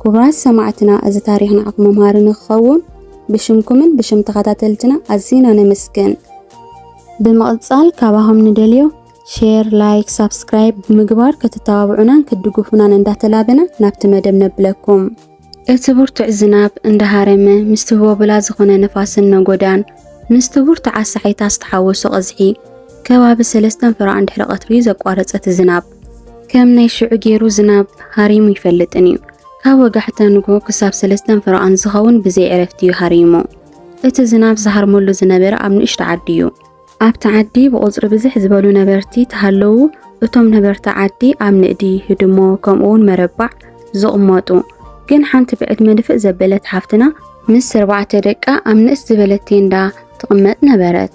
ክቡራት ሰማዕትና እዚ ታሪኽ ንዓኹም መምሃሪ ንክኸውን ብሽምኩምን ብሽም ተኸታተልትና ኣዝና ነመስግን። ብምቕጻል ካባኹም ንደልዮ ሼር፣ ላይክ፣ ሳብስክራይብ ብምግባር ክትተባብዑናን ክትድግፉናን እንዳተላበና ናብቲ መደብ ነብለኩም። እቲ ብርቱዕ ዝናብ እንዳሃረመ ምስቲ ህቦብላ ዝኾነ ንፋስን ነጎዳን ምስቲ ብርቱዓት ሳሕይታት ዝተሓወሶ ቐዝሒ ከባቢ ሰለስተን ፍራዕን ድሕሪ ቐትሪ ዘቋረጸ እቲ ዝናብ ከም ናይ ሽዑ ገይሩ ዝናብ ሃሪሙ ይፈልጥን እዩ። ካብ ወጋሕታ ንግሆ ክሳብ ሰለስተን ፈረቓን ዝኸውን ብዘይ ዕረፍቲ እዩ ሃሪሙ። እቲ ዝናብ ዝሃርመሉ ዝነበረ ኣብ ንእሽቶ ዓዲ እዩ። ኣብቲ ዓዲ ብቑጽሪ ብዝሕ ዝበሉ ነበርቲ ተሃለዉ። እቶም ነበርቲ ዓዲ ኣብ ንእዲ፣ ህድሞ፣ ከምኡውን መረባዕ ዝቕመጡ ግን ሓንቲ ብዕድመ ድፍእ ዘበለት ሓፍትና ምስ ኣርባዕተ ደቃ ኣብ ንእስ ዝበለት ቴንዳ ትቕመጥ ነበረት።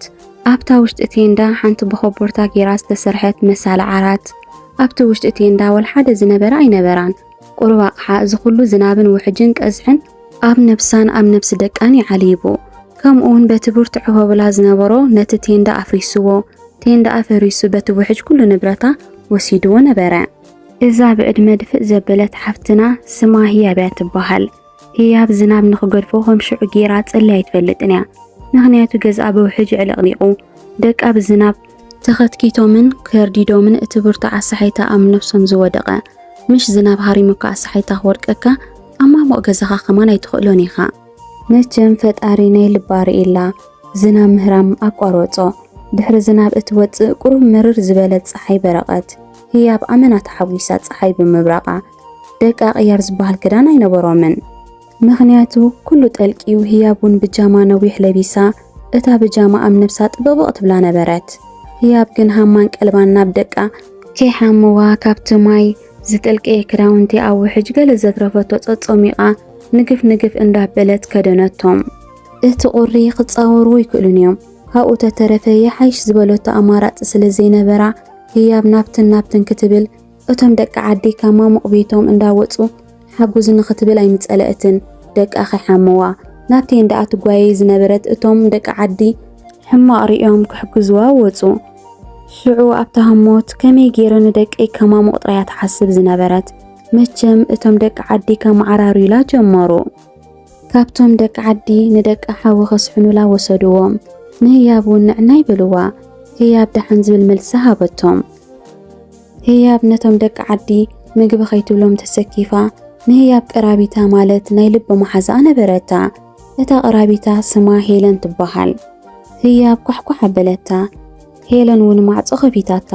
ኣብታ ውሽጢ ቴንዳ ሓንቲ ብኾቦርታ ጌራ ዝተሰርሐት መሳሊ ዓራት፣ ኣብቲ ውሽጢ ቴንዳ ወልሓደ ዝነበረ ኣይነበራን። ቁሩብ ኣቕሓ እዚ ኩሉ ዝናብን ውሕጅን ቀዝሕን ኣብ ነብሳን ኣብ ነብሲ ደቃን ይዓልይቡ። ከምኡውን በቲ ብርቱዕ ህቦብላ ዝነበሮ ነቲ ቴንዳ ኣፍሪሱዎ። ቴንዳ ኣፈሪሱ በቲ ውሕጅ ኩሉ ንብረታ ወሲዱዎ ነበረ። እዛ ብዕድመ ድፍእ ዘበለት ሓፍትና ስማ ህያብያ ትበሃል። ህያብ ዝናብ ንኽገድፎ ከም ሽዑ ጌራ ጸልያ ኣይትፈልጥን እያ። ምኽንያቱ ገዝኣ ብውሕጅ ዕልቕሊቑ፣ ደቃ ብዝናብ ተኸትኪቶምን ከርዲዶምን እቲ ብርቱዕ ኣሳሓይታ ኣብ ነብሶም ዝወደቐ። ምሽ ዝናብ ሃሪሙካ ኣሳሓይታ ክወድቀካ ኣብ ማሙቕ ገዛኻ ከማን ኣይትኽእሎን ኢኻ። መቸም ፈጣሪ ናይ ልባ ርኢላ ዝናብ ምህራም ኣቋረጾ። ድሕሪ ዝናብ እትወጽእ ቁሩብ ምርር ዝበለት ጸሓይ በረቐት። ህያብ ኣመና ተሓጒሳ ጸሓይ ብምብራቓ ደቂ ኣቕያር ዝበሃል ክዳን ኣይነበሮምን። ምኽንያቱ ኩሉ ጠልቂዩ ህያብ ውን ብጃማ ነዊሕ ለቢሳ እታ ብጃማ ኣብ ነብሳ ጥብቕብቕ ትብላ ነበረት። ህያብ ግን ሃማን ቀልባን ናብ ደቃ ከይሓምዋ ካብቲ ማይ ዝጠልቀየ ክዳውንቲ ኣብ ውሕጅ ገለ ዘትረፈቶ ጸጾሚቓ ንግፍ ንግፍ እንዳበለት ከደነቶም። እቲ ቁሪ ክጻወርዎ ይክእሉን እዮም ካብኡ ተተረፈ ይሓይሽ ዝበለቶ ኣማራጺ ስለ ዘይነበራ ህያብ ናብትን ናብትን ክትብል እቶም ደቂ ዓዲ ካብ ማሙቕ ቤቶም እንዳ ወጹ ሓጉዝ ንኽትብል ኣይምጸለእትን ደቃ ከይሓምዋ ናብ ቴንዳኣ ትጓየይ ዝነበረት እቶም ደቂ ዓዲ ሕማቕ ሪኦም ክሕግዝዋ ወጹ። ሽዑ ኣብታ ህሞት ከመይ ጌረ ንደቀይ ከማሙቕ ጥራያ ትሓስብ ዝነበረት። መቸም እቶም ደቂ ዓዲ ከመዓራርዩላ ጀመሩ። ካብቶም ደቂ ዓዲ ንደቂ ሓዊ ከስሕኑላ ወሰድዎም። ንህያብ እውን ንዕናይ በልዋ። ህያብ ደሓን ዝብል መልሲ ሃበቶም። ህያብ ነቶም ደቂ ዓዲ ምግቢ ከይትብሎም ተሰኪፋ ንህያብ ቀራቢታ ማለት ናይ ልቢ መሓዛኣ ነበረታ። እታ ቀራቢታ ስማ ሄለን ትበሃል። ህያብ ኳሕኳሕ ኣበለታ። ሄለን እውን ማዕጾ ከፊታታ።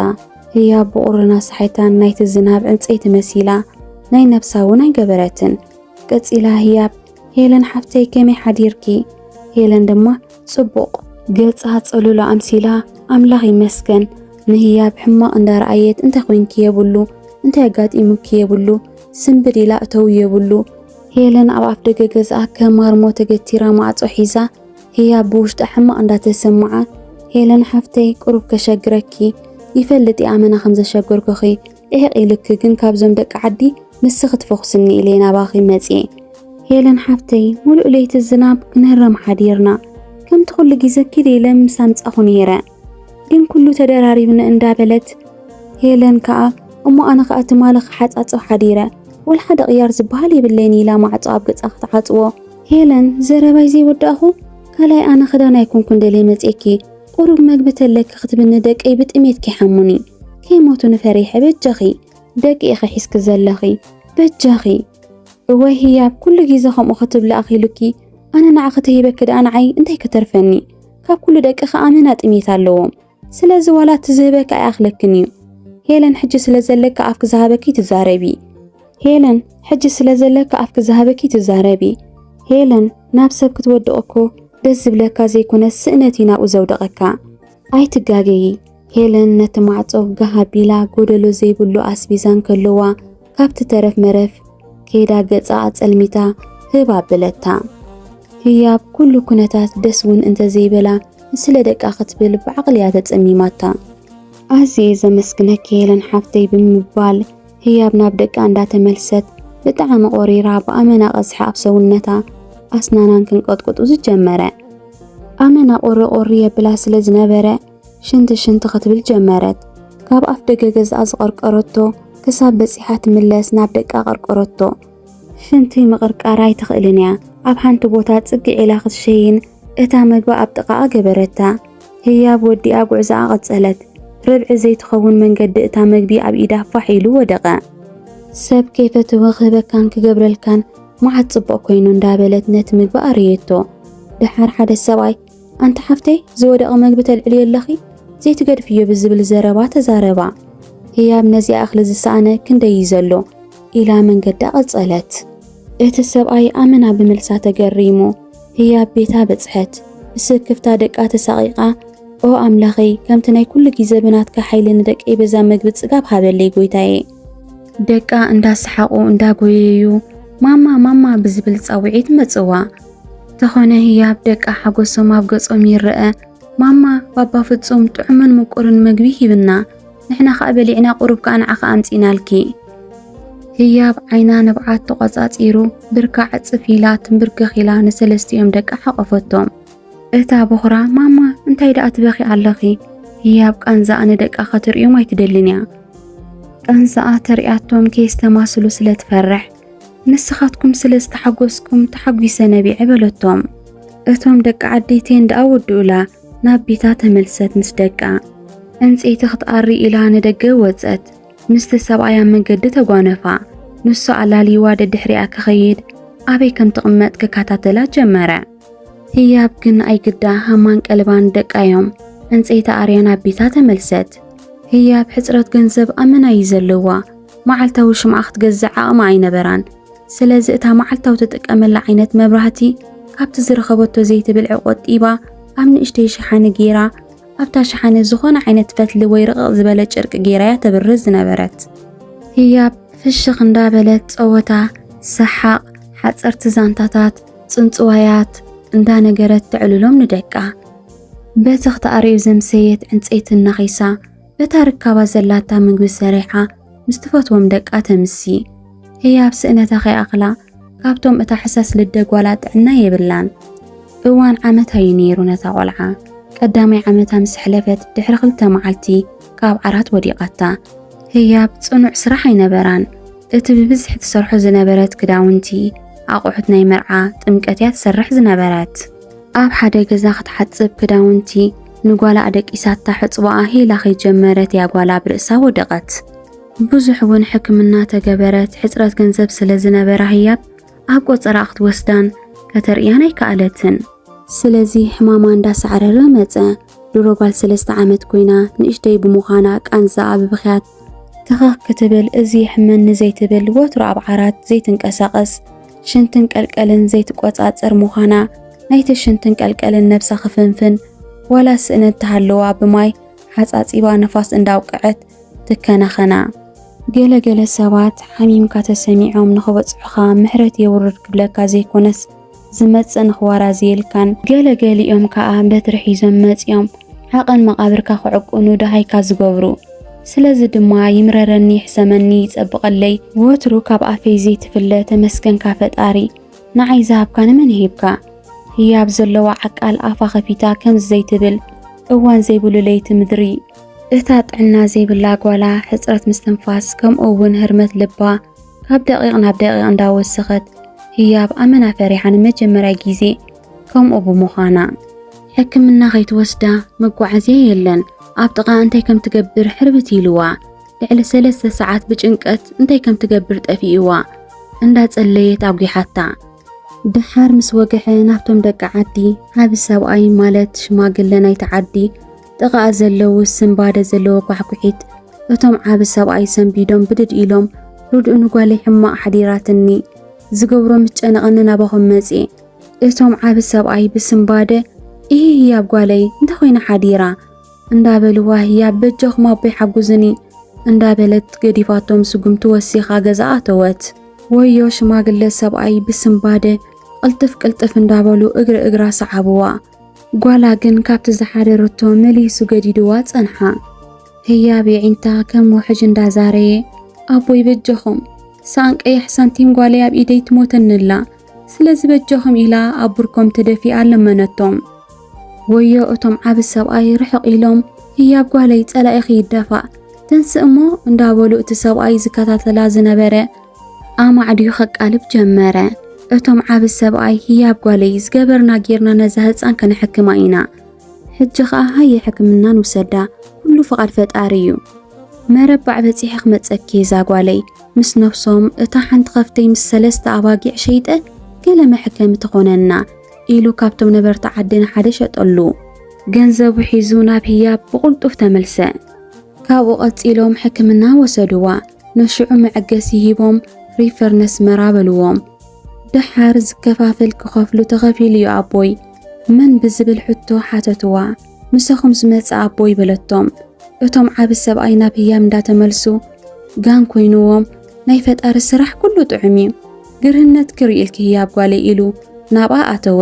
ህያብ ብቑርን ኣሳሒታን ናይቲ ዝናብ ዕንጸይቲ መሲላ ናይ ነብሳ እውን ኣይገበረትን። ቀጺላ ህያብ ሄለን ሓፍተይ ከመይ ሓዲርኪ? ሄለን ድማ ጽቡቕ ገጻ ጸሉሎ ኣምሲላ ኣምላኽ ይመስገን ንህያብ ሕማቕ እንዳረኣየት እንታይ ኮንኪ የብሉ እንታይ ኣጋጢሙኪ የብሉ ስንብድ ኢላ እተው የብሉ ሄለን ኣብ ኣፍደገ ገዝኣ ከም ማርሞ ተገቲራ ማዕጾ ሒዛ ህያብ ብውሽጣ ሕማቕ እንዳተሰምዓ ሄለን ሓፍተይ ቁሩብ ከሸግረኪ ይፈልጥ እየ ኣመና ከም ዘሸገርኩኺ ኢሂቅ ኢልኪ ግን ካብዞም ደቂ ዓዲ ንስኪ ክትፈኩስኒ ኢለ ናባኪ መጽየ። ሄለን ሓፍተይ ሙሉእ ለይቲ ዝናብ ክንህረም ሓዲርና ከምቲ ኩሉ ግዜ ኪዲ ኢለ ምስ ኣምጻኹ ነይረ ግን ኩሉ ተደራሪብኒ እንዳ በለት ሄለን ከኣ እሞ ኣነ ከኣ ትማሊ ክሓጻጽብ ሓዲረ ወላ ሓደ ቅያር ዝበሃል የብለይን ኢላ ማዕጾ ኣብ ገጻ ክትዓጽዎ ሄለን ዘረባይ ዘይወዳእኹ ካልኣይ ኣነ ክዳን ኣይኮንኩን ደልየ መጽየኪ ቁሩብ መግቢ ተለኪ ክትብኒ ደቀይ ብጥሜት ከይሓሙኒ ከይሞቱኒ ፈሪሐ በጃኺ ደቂ ኢኺ ሒዝኪ ዘለኺ በጃኺ እወይ ህያብ ኩሉ ግዜ ከምኡ ክትብሊ ኣኺሉኪ ኣነ ንዓኺ ተሂበኪ ደኣ ንዓይ እንታይ ከተርፈኒ ካብ ኩሉ ደቅኺ ኣመና ጥሜት ኣለዎም ስለዚ ዋላ እቲ ዝህበኪ ኣይኣኽለክን እዩ ሄለን ሕጂ ስለ ዘለኪ ኣፍኪ ዝሃበኪ ትዛረቢ ሄለን ሕጂ ስለ ዘለኪ ኣፍኪ ዝሃበኪ ትዛረቢ። ሄለን ናብ ሰብ ክትወድቕ እኮ ደስ ዝብለካ ዘይኮነስ ስእነት እዩ ናብኡ ዘውደቐካ። ኣይትጋገዪ ሄለን ነቲ ማዕጾ ጋህ ኣቢላ ጎደሎ ዘይብሉ ኣስቢዛ እንከለዋ ካብቲ ተረፍ መረፍ ከይዳ ገጻ ኣጸልሚታ ህብ ኣበለታ። ህያብ ኩሉ ኩነታት ደስ እውን እንተዘይበላ ንስለ ደቃ ክትብል ብዓቕሊ እያ ተጸሚማታ። ኣዝየ ዘመስግነኪ ሄለን ሓፍተይ ብምባል ህያብ ናብ ደቃ እንዳተመልሰት ብጣዕሚ ቆሪራ ብኣመና ቀዝሒ ኣብ ሰውነታ ኣስናናን ክንቀጥቁጡ ዝጀመረ። ኣመና ቁሪ ቁሪ የብላ ስለ ዝነበረ ሽንቲ ሽንቲ ክትብል ጀመረት። ካብ ኣፍ ደገ ገዝኣ ዝቐርቀረቶ ክሳብ በጺሓ ትምለስ ናብ ደቃ ቀርቀረቶ። ሽንቲ ምቕርቃር ኣይትኽእልን እያ። ኣብ ሓንቲ ቦታ ጽግዕ ኢላ ክትሸይን እታ መግባ ኣብ ጥቓኣ ገበረታ። ህያብ ወዲኣ ጉዕዞኣ ቀጸለት። ርብዒ ዘይትኸውን መንገዲ እታ መግቢ ኣብ ኢዳ ፋሕ ኢሉ ወደቐ። ሰብ ከይፈትወ ክህበካን ክገብረልካን መዓት ጽቡቕ ኮይኑ እንዳ በለት ነቲ ምግቢ ኣርእየቶ። ደሓር ሓደ ሰብኣይ ኣንቲ ሓፍተይ ዝወደቐ መግቢ ተልዕልዮ ኣለኺ ዘይትገድፍዮ ብዝብል ዘረባ ተዛረባ። ህያብ ነዚኣ እኽሊ ዝሰኣነ ክንደይ እዩ ዘሎ ኢላ መንገዳ ቀጸለት። እቲ ሰብኣይ ኣመና ብምልሳ ተገሪሙ። ህያብ ቤታ በጽሐት። ብስክፍታ ደቃ ተሳቒቓ ኦ ኣምላኸይ ከምቲ ናይ ኩሉ ግዜ ብናትካ ሓይሊ ንደቀይ በዛ መግቢ ጽጋብ ሃበለይ ጎይታየ። ደቃ እንዳሰሓቑ እንዳጎየዩ ማማ ማማ ብዝብል ጻውዒት መጽዋ። ተኾነ ህያብ ደቃ ሓጎሶም ኣብ ገጾም ይረኣ። ማማ ባባ ፍጹም ጥዑምን ምቁርን መግቢ ሂብና። ንሕና ከኣ በሊዕና ቁሩብ ከኣ ንዓኺ ኣምጺእናልኪ። ህያብ ዓይና ንብዓት ተቖጻጺሩ ብርካ ዕጽፍ ኢላ ትምብርከኽ ኢላ ንሰለስቲኦም ደቃ ሓቖፈቶም። እታ ቦኽራ ማማ እንታይ ደኣ ትበኽዪ ኣለኺ? ህያብ ቃንዛኣ ንደቃ ከትርእዮም ኣይትደልን እያ። ቃንዛኣ ተርእያቶም ከየስተማስሉ ስለ ትፈርሕ። ንስኻትኩም ስለ ዝተሓጎስኩም ተሓጒሰ ነቢዐ በለቶም። እቶም ደቂ ዓዲ'ቴን ደኣ ወድኡላ። ናብ ቤታ ተመልሰት ምስ ደቃ። ዕንጸይቲ ክትኣሪ ኢላ ንደገ ወጸት። ምስቲ ሰብኣይ ኣብ መንገዲ ተጓነፋ። ንሱ ኣላልይዋ ደድሕሪኣ ክኸይድ ኣበይ ከም ትቕመጥ ክከታተላ ጀመረ። ህያብ ግን ኣይግዳ ሃማን ቀልባን ደቃዮም ዕንጸይቲ ኣርያ ናብ ቤታ ተመልሰት። ህያብ ሕጽረት ገንዘብ ኣመና እዩ ዘለዋ። መዓልታዊ ሽምዓ ክትገዝእ ዓቕሚ ኣይነበራን። ስለዚ እታ መዓልታዊ ትጥቀመላ ዓይነት መብራህቲ ካብቲ ዝረኸበቶ ዘይትብልዒ ቆጢባ ኣብ ንእሽተይ ሸሓኒ ገይራ ኣብታ ሸሓኒ ዝኾነ ዓይነት ፈትሊ ወይ ርቕቕ ዝበለ ጨርቂ ገይራ እያ ተብርህ ዝነበረት። ህያብ ፍሽኽ እንዳበለት ጸወታ፣ ሰሓቕ፣ ሓጸርቲ ዛንታታት፣ ጽንጽዋያት እንዳነገረት ተዕልሎም ንደቃ። በቲ ክትኣርዩ ዘምሰየት ዕንጸይቲ እናኺሳ በታ ርካባት ዘላታ ምግቢ ሰሪሓ ምስ ትፈትዎም ደቃ ተምሲ። ህያብ ስእነታ ከይኣኽላ ካብቶም እታ ሕሳስ ልደ ጓላ ጥዕና የብላን። እዋን ዓመት ኣዩ ነይሩ ነታ ቆልዓ። ቀዳማይ ዓመታ ምስ ሕለፈት ድሕሪ ክልተ መዓልቲ ካብ ዓራት ወዲቓታ። ህያብ ጽኑዕ ስራሕ ኣይነበራን። እቲ ብብዝሒ ትሰርሖ ዝነበረት ክዳውንቲ፣ ኣቑሑት ናይ መርዓ፣ ጥምቀት እያ ትሰርሕ ዝነበረት። ኣብ ሓደ ገዛ ክትሓጽብ ክዳውንቲ ንጓላ ኣደቂሳታ ሕጽቦኣ ሂላ ከይጀመረት እያ ጓላ ኣብ ርእሳ ወደቐት። ብዙሕ እውን ሕክምና ተገበረት፣ ሕጽረት ገንዘብ ስለ ዝነበራ ህያብ ኣብ ቆጸራኣ ክትወስዳን ከተርእያን ኣይከኣለትን። ስለዚ ሕማማ እንዳሳዕረረ መጸ። ድሮ ጓል ሰለስተ ዓመት ኮይና ንእሽተይ ብምዃና ቃንዛኣ ብብኽያት ተኸኽ ክትብል እዚ የሕመኒ ዘይትብል ወትሩ ኣብ ዓራት ዘይትንቀሳቐስ ሽንትን ቀልቀልን ዘይትቆጻጸር ምዃና ናይቲ ሽንትን ቀልቀልን ነብሳ ክፍንፍን ዋላ ስእነት ተሃለዋ ብማይ ሓጻጺባ ንፋስ እንዳውቅዐት ትከናኸና። ገለ ገለ ሰባት ሓሚምካ ተሰሚዖም ንኽበጽሑኻ ምሕረት የውርድ ክብለካ ዘይኮነስ፣ ዝመጽእ ንኽዋራዝየልካን ገለ ገሊኦም ከኣ በትሪ ሒዞም መጺኦም ዓቐን መቓብርካ ክዕቁኑ ደሃይካ ዝገብሩ። ስለዚ ድማ ይምረረኒ ይሕሰመኒ ይጸብቐለይ ወትሩ ካብ ኣፈይ ዘይትፍለ ተመስገንካ ፈጣሪ ንዓይ ዝሃብካ ንመን ሂብካ ህያብ ዘለዋ ዓቃል ኣፋ ከፊታ ከምዚ ዘይትብል እዋን ዘይብሉ ለይቲ ምድሪ እታ ጥዕና ዘይብላ ጓላ ሕጽረት ምስትንፋስ ከምኡ እውን ህርመት ልባ ካብ ደቂቕ ናብ ደቂቕ እንዳወሰኸት ህያብ ኣመና ፈሪሓ ንመጀመርያ ግዜ ከምኡ ብምዃና ሕክምና ከይትወስዳ መጓዓዝያ የለን ኣብ ጥቓ እንታይ ከም ትገብር ሕርብት ኢልዋ ልዕሊ ሰለስተ ሰዓት ብጭንቀት እንታይ ከም ትገብር ጠፊእዋ እንዳጸለየት ኣጒሓታ ድሓር ምስ ወግሐ ናብቶም ደቂ ዓዲ ዓቢ ሰብኣይ ማለት ሽማግለ ናይቲ ዓዲ ጥቓኣ ዘለዉ ስንባደ ዘለዎ ኳሕኲሒት እቶም ዓቢ ሰብኣይ ሰንቢዶም ብድድ ኢሎም ርድኡ ንጓለይ ሕማቕ ሓዲራትኒ ዝገብሮ ምስ ጨነቐኒ ናባኹም መጽየ እቶም ዓቢ ሰብኣይ ብስንባደ እሂ ህያብ ጓለይ እንተ ኮይና ሓዲራ እንዳበልዋ ህያብ በጃኹም ኣቦይ ሓጉዝኒ እንዳበለት ገዲፋቶም ስጉምቲ ወሲኻ ገዛ ኣተወት። ወዮ ሽማግለ ሰብኣይ ብስንባደ ቅልጥፍ ቅልጥፍ እንዳበሉ እግሪ እግራ ሰዓብዋ። ጓላ ግን ካብቲ ዝሓደረቶ መሊሱ ገዲድዋ ጸንሓ። ህያብ የዒንታ ከም ውሕጅ እንዳ ዛረየ፣ ኣቦይ በጀኹም ሰኣን ቀያሕ ሳንቲም ጓለይ ኣብ ኢደይ ትሞተኒ ኣላ፣ ስለዚ በጀኹም ኢላ ኣብ ብርኮም ተደፊኣ ለመነቶም። ወዮ እቶም ዓቢ ሰብኣይ ርሕቕ ኢሎም፣ ህያብ ጓለይ ጸላኢኺ ይደፋእ ተንስእ እሞ እንዳበሉ እቲ ሰብኣይ ዝከታተላ ዝነበረ ኣማዕድዩ ከቃልብ ጀመረ። እቶም ዓቢ ሰብኣይ ህያብ ጓለይ ዝገበርና ጌርና ነዛ ህጻን ከነሕክማ ኢና። ሕጂ ኸኣ ሃየ ሕክምና ንውሰዳ፣ ኩሉ ፍቓድ ፈጣሪ እዩ። መረባዕ በጺሐ ክመጸኪ እየ እዛ ጓለይ ምስ ነብሶም እታ ሓንቲ ከፍተይ ምስ ሰለስተ ኣባጊዕ ሸይጠ ገለ መሕከሚ ትኾነና ኢሉ ካብቶም ነበርቲ ዓዲ ንሓደ ሸጠሉ። ገንዘቡ ሒዙ ናብ ህያብ ብቕልጡፍ ተመልሰ። ካብኡ ቀጺሎም ሕክምና ወሰድዋ። ንሽዑ መዕገሲ ሂቦም ሪፈር ነስመራ በልዎም። ደሓር ዝከፋፈል ክኸፍሉ ተኸፊሉ'ዩ ኣቦይ። መን ብዝብል ሕቶ ሓተትዋ። ምሳኹም ዝመጸ ኣቦይ በለቶም። እቶም ዓቢ ሰብኣይ ናብ ህያብ እንዳተመልሱ ጋን ኮይንዎም ናይ ፈጣሪ ስራሕ ኩሉ ጥዑም'ዩ። ግርህነት ክሪኢልኪ ህያብ ጓለይ ኢሉ ናብኣ ኣተወ።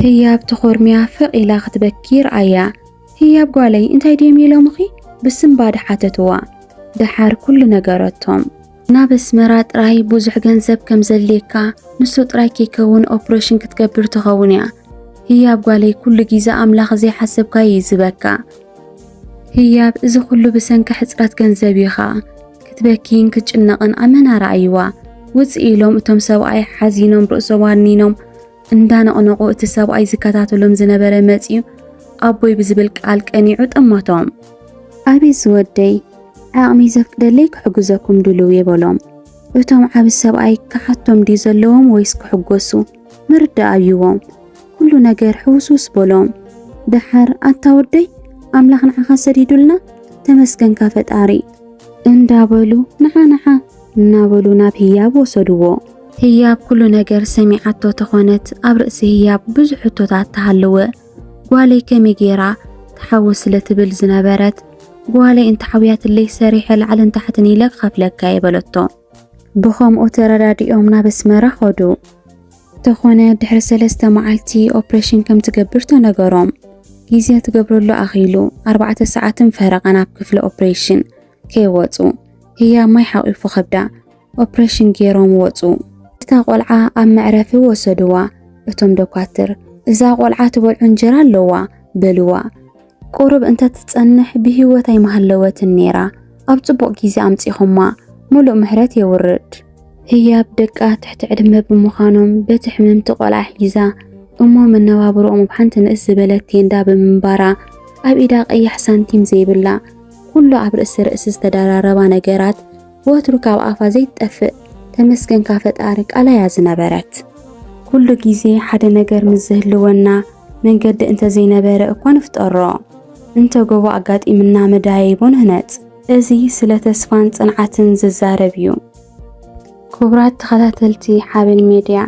ህያብ ተኾርምያ ፍቕ ኢላ ክትበኪ ረኣያ። ህያብ ጓለይ እንታይ ድዮም ኢሎምኺ? ብስንባደ ሓተትዋ። ደሓር ኩሉ ነገረቶም። ናብ ኣስመራ ጥራይ ብዙሕ ገንዘብ ከም ዘድልየካ፣ ንሱ ጥራይ ከይከውን ኦፕረሽን ክትገብር ትኸውን እያ። ህያብ ጓለይ ኩሉ ጊዘ ኣምላኽ ዘይሓሰብካዮ ይዝበካ። ህያብ እዚ ኩሉ ብሰንኪ ሕጽረት ገንዘብ እዩ ኸኣ። ክትበኪይን ክትጭነቕን ኣመና ረኣይዋ። ውጽእ ኢሎም እቶም ሰብኣይ ሓዚኖም ርእሶም ኣድኒኖም እንዳነቕነቑ እቲ ሰብኣይ ዝከታተሎም ዝነበረ መጺኡ ኣቦይ ብዝብል ቃል ቀኒዑ ጠማቶም። ኣቤት ዝወደይ ዓቕመይ ዘፍቅደለይ ክሕግዘኩም ድልው እየ በሎም። እቶም ዓቢ ሰብኣይ ክሓቶም ድዩ ዘለዎም ወይስ ክሕጎሱ ምርዳእ ኣብይዎም ኩሉ ነገር ሕውስውስ በሎም። ደሓር ኣታ ወደይ ኣምላኽ ንዓኻ ሰዲዱልና ተመስገንካ ፈጣሪ እንዳበሉ ንሓ ንሓ እናበሉ ናብ ህያብ ወሰድዎ። ህያብ ኩሉ ነገር ሰሚዓቶ ተኾነት ኣብ ርእሲ ህያብ ብዙሕ ሕቶታት ተሃለወ። ጓለይ ከመይ ጌራ ትሓዊ ስለ ትብል ዝነበረት ጓለይ እንተሓውያትለይ ሰሪሐ ላዕልን ታሕትን ኢለ ክኸፍለካ'የ በለቶ። ብኸምኡ ተረዳዲኦም ናብ ኣስመራ ኸዱ። ተኾነ ድሕሪ ሰለስተ መዓልቲ ኦፕሬሽን ከም ትገብር ተነገሮም። ግዜ ትገብረሉ ኣኺሉ ኣርባዕተ ሰዓትን ፈረቓን ኣብ ክፍሊ ኦፕሬሽን ከይወጹ ህያብ ማይ ሓቒፉ ከብዳ ኦፕሬሽን ገይሮም ወጹ። እታ ቆልዓ ኣብ መዕረፊ ወሰድዋ። እቶም ዶኳትር እዛ ቆልዓ ትበልዖ እንጀራ ኣለዋ በልዋ። ቁሩብ እንተ ትጸንሕ ብህይወት ኣይምሃለወትን ነይራ። ኣብ ጽቡቕ ግዜ ኣምጺኹማ። ምሉእ ምሕረት የውርድ። ህያብ ደቃ ትሕቲ ዕድመ ብምዃኖም በቲ ሕምምቲ ቆልዓ ሒዛ እሞ መነባብሮኦም ኣብ ሓንቲ ንእስ ዝበለት ቴንዳ ብምንባራ ኣብ ኢዳ ቀያሕ ሳንቲም ዘይብላ ኩሉ ኣብ ርእሲ ርእሲ ዝተደራረባ ነገራት ወትሩ ካብ ኣፋ ዘይትጠፍእ ተመስገንካ ፈጣሪ ቃላ'ያ ዝነበረት። ኩሉ ግዜ ሓደ ነገር ምስ ዝህልወና መንገዲ እንተ ዘይነበረ እኳ ንፍጠሮ፣ እንተ ጎቦ ኣጋጢምና መደያይቦ ንህነጽ። እዚ ስለ ተስፋን ጽንዓትን ዝዛረብ እዩ። ክቡራት ተኸታተልቲ ሓበን ሜድያ፣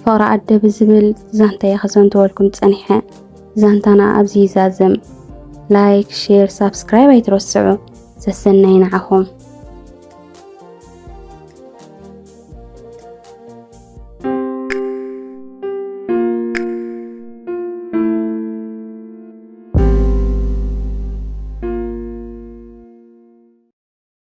ፍቕሪ ኣደ ብዝብል ዛንታ'የ ክዘንትወልኩም ጸኒሐ። ዛንታና ኣብዚ ይዛዘም። ላይክ፣ ሼር፣ ሳብስክራይብ ኣይትረስዑ። ሰሰናይ ንዓኹም።